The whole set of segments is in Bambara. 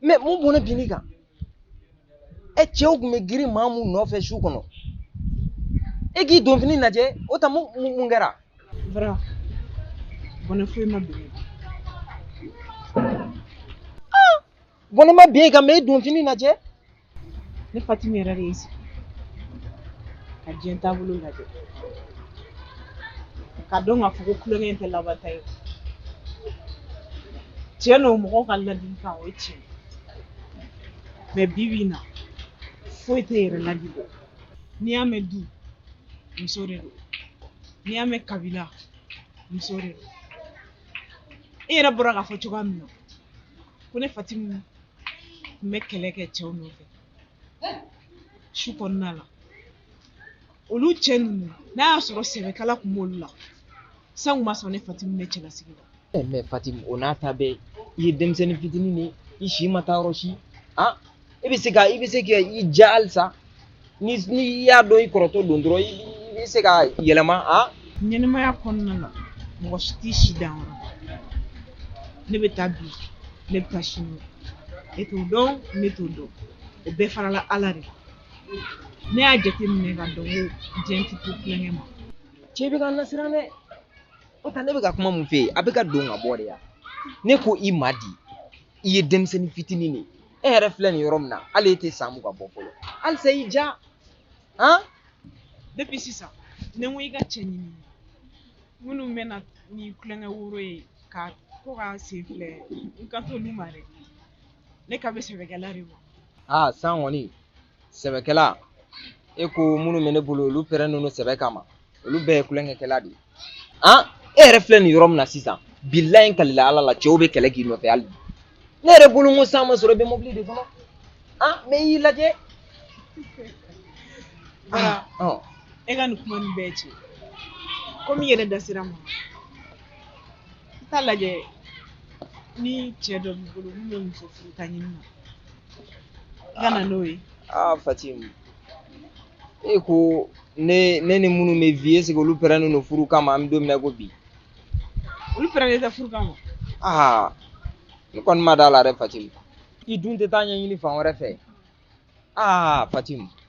mɛ mun bɔnɛ binna i kan ɛ cɛw tun bɛ girin maa mun nɔfɛ su kɔnɔ e k'i donfini lajɛ o ta mun kɛra bara bɔnɛ foyi ma bin bɔnɛ ma bin i kan mɛ e donfini lajɛ ne fatimi yɛrɛ de ye sigi ka diɲɛ taabolo lajɛ ka dɔn k'a fɔ ko kulonkɛ in tɛ laban ta ye tiɲɛ don mɔgɔw ka ladilikan o ye tiɲɛ mɛ bi bi in na foyi tɛ yɛrɛ ladi bɔ n'i y'a mɛn du muso de don n'i y'a mɛn kabila muso de don e yɛrɛ bɔra k'a fɔ cogoya min na ko ne fatimu tun bɛ kɛlɛ kɛ cɛw nɔfɛ su kɔnɔna la olu cɛ ninnu n'a y'a sɔrɔ sɛbɛ kala tun b'olu la san tun b'a sɔrɔ ne fatimu bɛ cɛlasigi la eh, mɛ fatimu o n'a ta bɛɛ i ye denmisɛnnin fitinin de ye i si ma taa yɔrɔ si an ah, i bɛ se ka i bɛ se ka i ja halisa ni i y'a dɔn i kɔrɔtɔ don dɔrɔn i bɛ se ka yɛlɛma ɲɛnamaya kɔnɔna la mɔgɔ si t'i si dan yɔrɔ ne bɛ taa bi ne bɛ taa sini e t'o dɔn ne t'o dɔn o bɛɛ farala ala de kan ne y'a jateminɛ ka dɔn ko diɲɛ tɛ to kulonkɛ ma cɛ bɛ ka n lasiran dɛ o ta ne bɛ ka kuma mun f'e ye a bɛ ka don ka bɔ de yan ne ko i ma di i ye denmisɛnnin fitinin de ye e yɛrɛ filɛ nin yɔrɔ min na hali e tɛ san mugan bɔ fɔlɔ halisa i ja han depuis sisan ne ko i ka cɛ ɲini minnu bɛna ni kulonkɛ woro ye ka ko ka sen filɛ n kan t'olu ma dɛ ne kan bɛ sɛbɛkɛla de ma aa san kɔni sɛbɛkɛla e ko minnu bɛ ne bolo olu pɛrɛnnen don sɛbɛ kama olu bɛɛ ye kulonkɛkɛla de ye an e yɛrɛ filɛ nin yɔrɔ min na sisan bilayi n kalila ala la cɛw bɛ kɛlɛ k'i nɔfɛ hali ne yɛrɛ bolo n ko san b'a sɔrɔ i bɛ mobili de kɔnɔ an mɛ y'i lajɛ bara ɔ e ka nin kuma nin bɛɛ cɛ komi i yɛrɛ da sera a ma i t'a lajɛ ni cɛ dɔ b'i bolo min bɛ muso furuta ɲini na ka na n'o ye aa fatim e ko ne ni minnu bɛ vi eseke olu pɛrɛnnen don furu kama an bɛ don min na ko bi olu pɛrɛnnen tɛ furu kama aa ne kɔni ma d'a la dɛ fatim i dun tɛ taa ɲɛɲini fan wɛrɛ fɛ aa fatim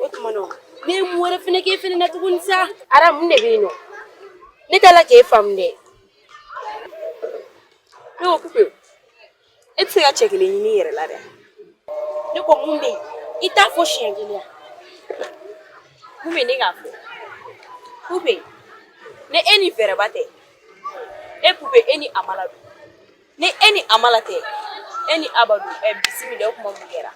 o tuma na ne ye mun wɛrɛ fana k'e fana na tuguni sa ara mun de bɛ yen nɔ ne t'a la k'e faamu dɛ ne ko pupe e tɛ se ka cɛ kelen ɲini i yɛrɛ la dɛ ne ko mun bɛ yen i t'a fɔ siɲɛ kelen ya mun bɛ ne k'a fɔ pupe ne e ni fɛɛrɛba tɛ e pupe e ni amala don ni e ni amala tɛ e ni aba don ɛ bisimila o kuma mun kɛra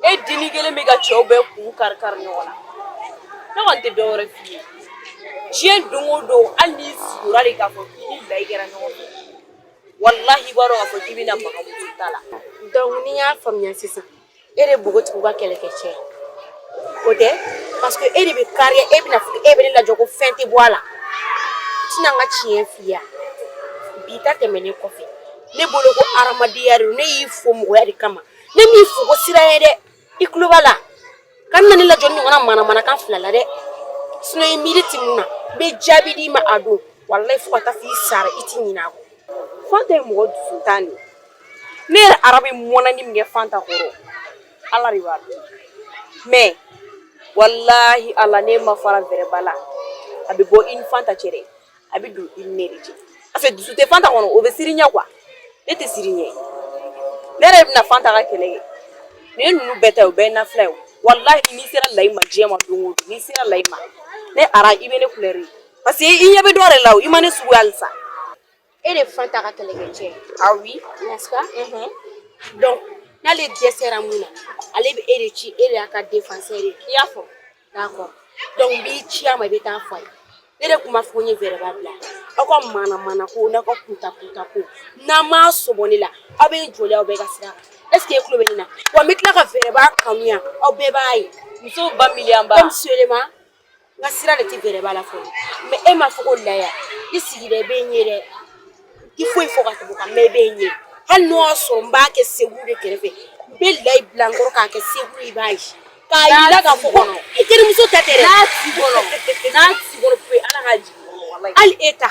e dennin kelen bɛ ka cɛw bɛɛ kun kari kari ɲɔgɔn na ne kɔni tɛ dɔwɛrɛ f'i ye diɲɛ don o don hali n'i sugora de k'a fɔ k'i ni layi kɛra ɲɔgɔn fɛ walahi i b'a dɔn k'a fɔ k'i bɛna maga muso ta la donc ni n y'a faamuya sisan e de npogotigiw ka kɛlɛkɛ cɛ o tɛ parce que e de bɛ kariya e bɛna fɔ e bɛ ne lajɔ ko fɛn tɛ bɔ a la tɛna n ka tiɲɛ f'i ye bi ta tɛmɛnen kɔfɛ ne bolo ko hadamadenya de don ne y'i fo mɔgɔya de kama ne m'i fo ko siranɲɛ dɛ i tulo b'a la kana ne lajɔ nin ɲɔgɔnna manamanakan fila la dɛ sinon i miiri ti mun na n bɛ jaabi d'i ma a don walayi fo ka taa f'i sara i ti ɲinɛ a kɔ fanta ye mɔgɔ dusuntan de ne yɛrɛ arabe mɔnani min kɛ fanta kɔrɔ ala de b'a dɔn mais walahi ala ne ma fara vɛrɛba la a bɛ bɔ i ni fanta cɛ dɛ a bɛ don i ni ne de cɛ parce que dusu tɛ fanta kɔnɔ o bɛ siran i ɲɛ quoi ne tɛ siran i ɲɛ ne yɛrɛ bɛna fanta ka kɛlɛ kɛ nin ninnu bɛɛ ta o bɛɛ ye nafila ye walahi n'i sera layi ma diɲɛ ma don o don n'i sera layi ma ne ara i bɛ ne couleur ye parce que i ɲɛ bɛ dɔ de la o i ma ne sugu ye halisa e de fanta ka kɛlɛkɛ cɛ ah oui nka donc n'ale dɛsɛra mun na ale bɛ e de ci e de y'a ka défenseur ye i y'a fɔ d'accord donc n b'i ci a ma i bɛ taa fɔ a ye ne de tun b'a fɔ ko n ye vɛrɛba bila aw ka mana mana ko n'aw ka kunta kunta ko n'aw m'aw sen bɔ ne la aw bɛ joli aw bɛɛ ka sira est ce que e tulo bɛ ne na wa n bɛ tila ka vɛrɛba kanuya aw bɛɛ b'a ye musow ba miliyanba comme seulement n ka sira de tɛ vɛrɛba la fɔlɔ mais e m'a fɔ ko laya i sigida i bɛ n ye dɛ i foyi fɔ ka tɛmɛ o kan mais i bɛ n ye hali n'o y'a sɔrɔ n b'a kɛ secours de kɛrɛfɛ n bɛ layi bila n kɔrɔ k'a kɛ secours i b'a ye k'a yira k'a fɔ ko i terimuso ta tɛ dɛ n'a t'i kɔnɔ n'a t'i kɔnɔ pewu ala k'a jigin hali e ta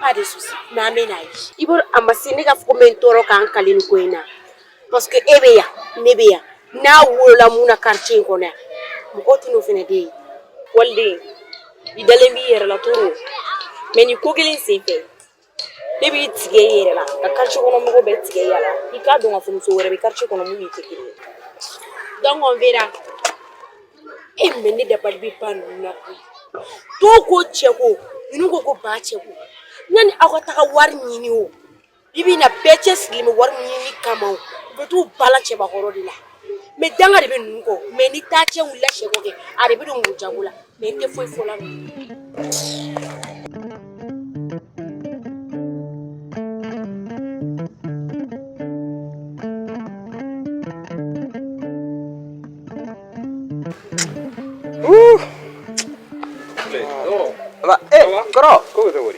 pas de souci mais an bɛn'a ye i bolo a ma se ne ka fɔ ko n bɛ n tɔɔrɔ ka n kali nin ko in na parce que e bɛ yan ne bɛ yan n'a wolola mun na quartier in kɔnɔ yan mɔgɔw tɛ n'o fana de ye waliden i dalen b'i yɛrɛ la trop mais nin ko kelen sen fɛ ne b'i tigɛ i yɛrɛ la ka quartier kɔnɔ mɔgɔ bɛɛ tigɛ i yɛrɛ la i k'a dɔn k'a fɔ muso wɛrɛ bɛ quartier kɔnɔ min n'i tɛ kelen ye donc on verra e mais ne dabali bɛ ban ninnu na koyi dɔw ko cɛ ko ninnu ko ko ba cɛ ko yanni aw ka taga wari ɲini o bi bi in na bɛɛ cɛsirilen bɛ wari ɲini kama o u bɛ t'u balan cɛbakɔrɔ de la mais danga de bɛ ninnu kɔ mais ni taa cɛ wulila cɛko kɛ a de bɛ don muru jago la mais n tɛ foyi fɔ la kɔrɔ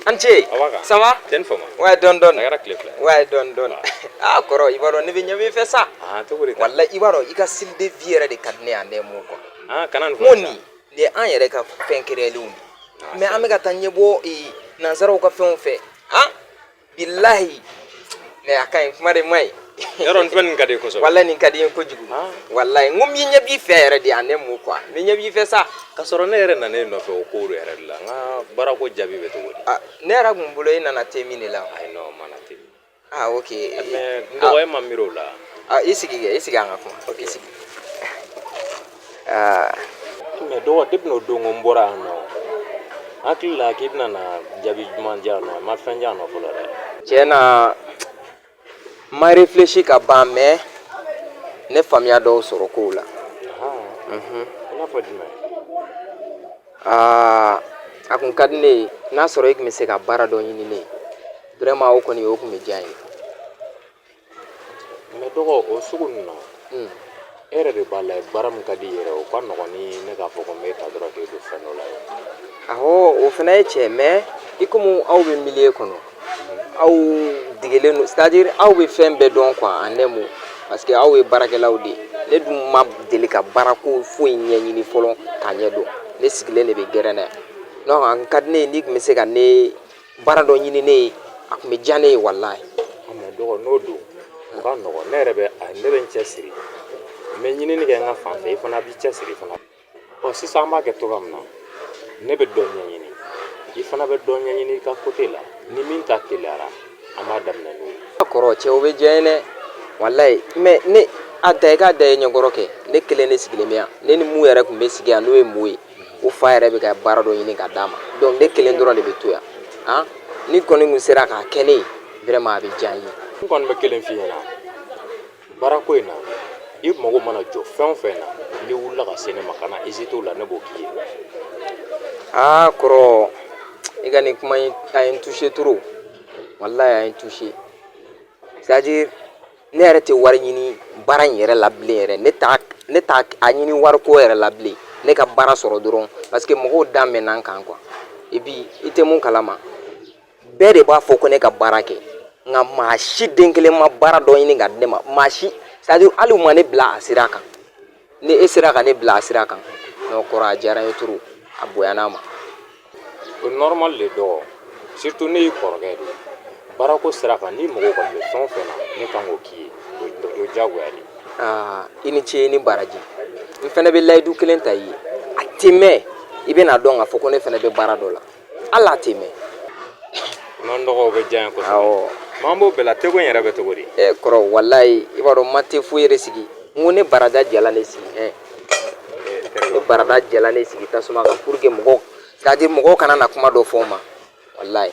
an ce ça va ouais dɔɔnin dɔɔnin ouais dɔɔnin dɔɔnin ah kɔrɔ i b'a dɔn ne bɛ ɲɛ b'i fɛ sa wala i b'a dɔn i ka style de vie yɛrɛ de ka di ne ye en un mot kɔnɔ ko nin nin ye an yɛrɛ ka fɛn créélenw de mais an bɛ ka taa ɲɛbɔ nansaraw ka fɛnw fɛ bilahi mais a ka ɲi kuma de ma ɲi yɔrɔ nin nin ka di kosɛbɛ walayi nin ka di n ye kojugu walayi n kun bɛ ɲɛ b'i fɛ yɛrɛ de en un mot quoi n bɛ ɲɛ b'i fɛ sa ka sɔrɔ ne yɛrɛ nana e nɔfɛ o kow de yɛrɛ de la n ka baarako jaabi bɛ cogo di ne yɛrɛ kun bolo e nana te min de la ayi non n ma na te min ah ok mais n dɔgɔ ne ma miiri o la i sigi kɛ i sigi an ka kuma ok i sigi aa mais dɔgɔ depuis n'o don ko n bɔra yan nɔ hakili la k'i bɛna na jaabi duman di yan nɔ a ma fɛn di yan nɔ fɔlɔ dɛ tiɲɛ na n ma réfléchi ka ban mais ne faamuya dɔw sɔrɔ kow la mhm. i n'a fɔ jumɛn aa a kun ka di ne ye n'a sɔrɔ i tun bɛ se ka baara dɔ ɲini ne ye vraiment o kɔni o tun bɛ diya n ye mais dɔgɔ o sugu ninnu na e yɛrɛ de b'a lajɛ baara min ka di i yɛrɛ o ka nɔgɔn ni ne k'a fɔ ko n b'e ta dɔrɔn k'e don fɛn dɔ la ye awɔ o fana ye tiɲɛ mais i komi aw bɛ milieu kɔnɔ aw degelen don c'est-à-dire aw bɛ fɛn bɛɛ dɔn quoi en un mot parce que aw ye baarakɛlaw de ye ne dun ma deli ka baarako foyi ɲɛɲini fɔlɔ k'a ɲɛdɔn ne sigilen de bɛ gɛrɛn na yan donc a ka di ne ye n'i tun bɛ se ka ne baara dɔ ɲini ne ye a tun bɛ diya ne ye walayi mais dɔgɔ n'o don o ka nɔgɔn ne yɛrɛ bɛ ne bɛ n cɛ siri n bɛ ɲinini kɛ n ka fan fɛ i fana b'i cɛ siri fana ɔ sisan an b'a kɛ cogoya min na ne bɛ dɔ ɲɛɲini i fana bɛ dɔ ɲɛɲini i ka côté la ni min ta teliyara an b'a daminɛ n'o ye kɔrɔ cɛ o bɛ diya n ye dɛ walayi mais ne a da i k'a da i ɲɛkɔrɔ kɛ ne kelen ne sigilen bɛ yan ne ni min yɛrɛ tun bɛ sigi yan n'o ye Mo ye o fa yɛrɛ bɛ ka baara dɔ ɲini ka d'a ma donc ne kelen dɔrɔn de bɛ to yan han n'i kɔni tun sera k'a kɛ ne ye vraiment a bɛ diya n ye. n kɔni bɛ kelen f'i ɲɛna baarako in na i mago mana jɔ fɛn o fɛn na n'i wulila ka se ne ma kana hésiter o la ne b'o k'i ye. aa kɔrɔ i ka nin kuma in a ye n toucher trop walayi a ye n toucher. c'est-à-dire ne yɛrɛ tɛ wari ɲini baara in yɛrɛ la bilen yɛrɛ ne t'a ne t'a ɲini wariko yɛrɛ la bilen ne ka baara sɔrɔ dɔrɔn parce que mɔgɔw da mɛnna n kan quoi et puis i tɛ mun kalama bɛɛ de b'a fɔ ko ne ka baara kɛ nka maa si den kelen ma baara dɔ ɲini k'a di ne ma maa si c'est-à-dire hali ma ne bila a sira kan Ni e sera ka ne bila a sira kan non kɔrɔ a diyara n ye trop a bonyana n ma o normal de dɔgɔ surtout ne y'i kɔrɔkɛ de ye baarako sira kan n'i mago kɔni bɛ fɛn o fɛn na ne kan k'o k'i ye o diyagoya de aa i ni ce i ni baraji n fɛnɛ bɛ layidu kelen ta i ye a tɛ mɛn i bɛn'a dɔn k'a fɔ ko ne fɛnɛ bɛ baara dɔ la hali a tɛ mɛn non dɔgɔ o bɛ diya n ye kosɛbɛ awɔ mais an b'o bɛɛ la teko in yɛrɛ bɛ cogo di ɛ kɔrɔ walayi i b'a dɔn n ma te foyi yɛrɛ sigi n ko ne barada jalan de sigi ɛ ne barada jalan de sigi tasuma kan pour que mɔgɔw c'est à dire mɔgɔw kana na kuma dɔ fɔ n ma walayi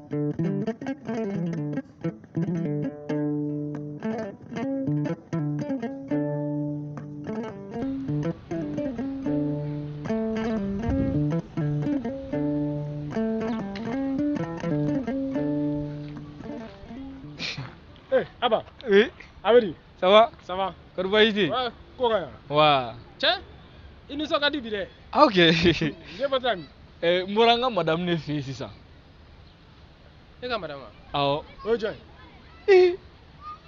Eh, Abba. Oui. A bɛ di? Ça va Ça va. Kɔri baasi tɛ yen? Ouais, ko ka ɲi. Wa. Cɛ, i nisɔn ka di bi dɛ. Ah ok. E bɔra min? Eh, n bɔra n ka madame de fɛ yen sisan. e ka madame awɔ o ye jɔn ye ee e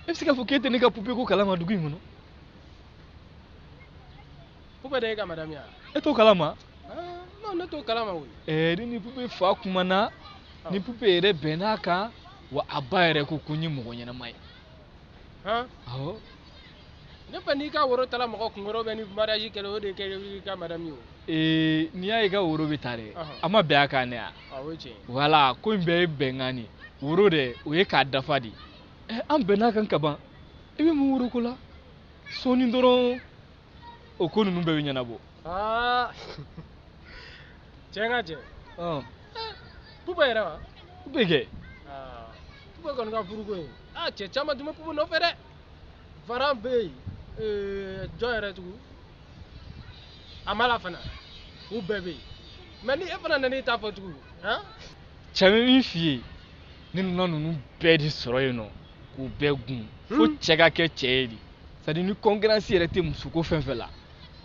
bɛ se k'a fɔ k'e tɛ ne ka pupe ko kalama dugu in kɔnɔ pupe de y'e ka madame ye wa e t'o kalama non ne t'o kalama koyi ɛɛ ne ni pupe fa kumana n ni pupe yɛrɛ bɛnn'a kan wa a ba yɛrɛ ko ko n ye mɔgɔ ɲɛnama ye awɔ ne fɛ n'i ka woro tala mɔgɔ kunkɔrɔ bɛ ni mariage kɛla o de kɛ i ka madame ye o ee n'i y'a ye i ka woro bɛ ta dɛ a ma bɛn a kan de wa ah, o ye tiɲɛ voilà ko in bɛɛ ye bɛnkan de woro dɛ o ye k'a dafa de eh, an bɛnn'a kan ka ban i bɛ mun woro ko la sɔɔni dɔrɔn o ko ninnu bɛɛ bɛ ɲɛnabɔ aa cɛ nka cɛ pupe yɛrɛ wa pupe kɛ pupe kɔni ka furuko ye aa cɛ caman tun bɛ pupe nɔfɛ dɛ Faran bɛ yen ee, jɔn yɛrɛ tugun Amala fana u bɛɛ bɛ yen mais ni e fana nan'i ta fɔ tugun han cɛ n bɛ min f'i ye ne nana ninnu bɛɛ de sɔrɔ yen nɔ k'u bɛɛ gun fo hmm. cɛ ka kɛ cɛ ye de c'est à dire ni concurrence yɛrɛ tɛ musoko fɛn fɛn la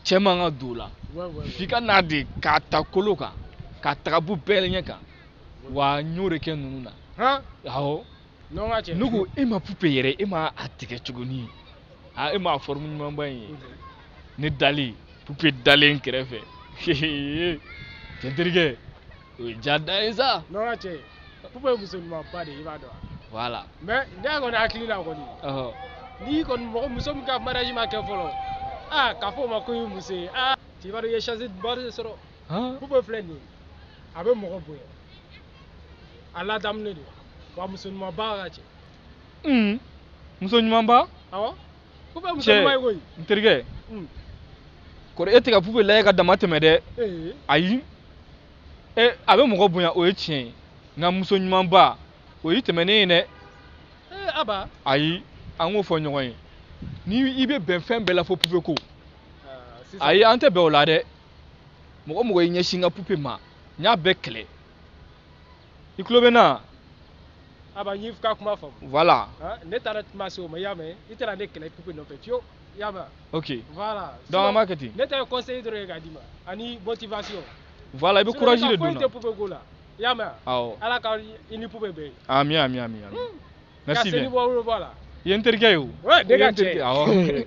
cɛ man ka don o la f'i ka na de k'a ta kolo kan k'a ta k'a b'u bɛɛ ɲɛ kan wa n y'o de kɛ ninnu na awɔ ne ko e ma pupe yɛrɛ e ma a tigɛ cogoni aa e ma a forme ɲumanba in ye ne dalen pupe dalen n kɛrɛfɛ cɛ n terikɛ o ye diya dan ye sa pupe ye muso ɲumanba de ye i b'a dɔn voilà mais ne kɔni hakili la kɔni n'i kɔni mɔgɔ muso min ka mariage ma kɛ fɔlɔ aa k'a fɔ o ma ko i ye muso ye aa cɛ i b'a dɔn i ye chance ba de sɔrɔ pupe filɛ nin ye a bɛ mɔgɔ bonya a ladamunen don wa muso ɲuman ba ka cɛ un muso ɲuman ba awɔ pupe muso Cɛ. ɲuman ye koyi n terikɛ Mm. kɔrɔ e tɛ ka pupe lajɛ ka dama tɛmɛ dɛ ee ayi e a bɛ mɔgɔ bonya o ye tiɲɛ ye nka muso ɲuman ba o y'i tɛmɛnen ye dɛ ee aba ayi an k'o fɔ ɲɔgɔn ye ni i bɛ bɛn fɛn bɛɛ la fo pupe ko Aa, sisan- ayi an tɛ bɛn o la dɛ mɔgɔ mɔgɔ y'i ɲɛsin n ka pupe ma n y'a bɛɛ kɛlɛ i tulo bɛ n na aba n y'i ka kuma faamu voilà ne tɛna kuma se o ma i y'a mɛn i tɛna ne kɛlɛ pupe nɔfɛ fiyewu i y'a mɛn ok voilà donc an b'a kɛ ten ne ta ye conseil dɔrɔn ye k'a d'i ma ani motivation voilà i bɛ courage de don n na foyi tɛ pupe ko la i y'a mɛn awɔ ala ka i ni pupe bɛn ami ami ami ami hmm. merci bien ka seli bɔ wolo bɔ a la i ye n terikɛ ye o ne ka cɛ awɔ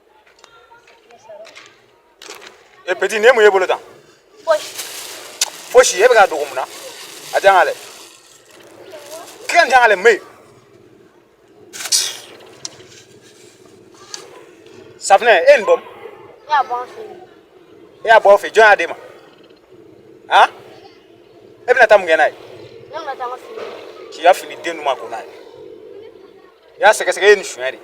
e petinin mun y'e bolo tan fosi e bɛ k'a dogo mun na a di yan k'a lɛ k'i k'a di yan k'a lɛ mais safinɛ e nin dun e y'a bɔ fɛ jɔn y'a d'e ma han e bɛna taa mun kɛ n'a ye k'i ka fini den duman ko n'a ye i y'a sɛgɛsɛgɛ e ye nin suɲɛ de ye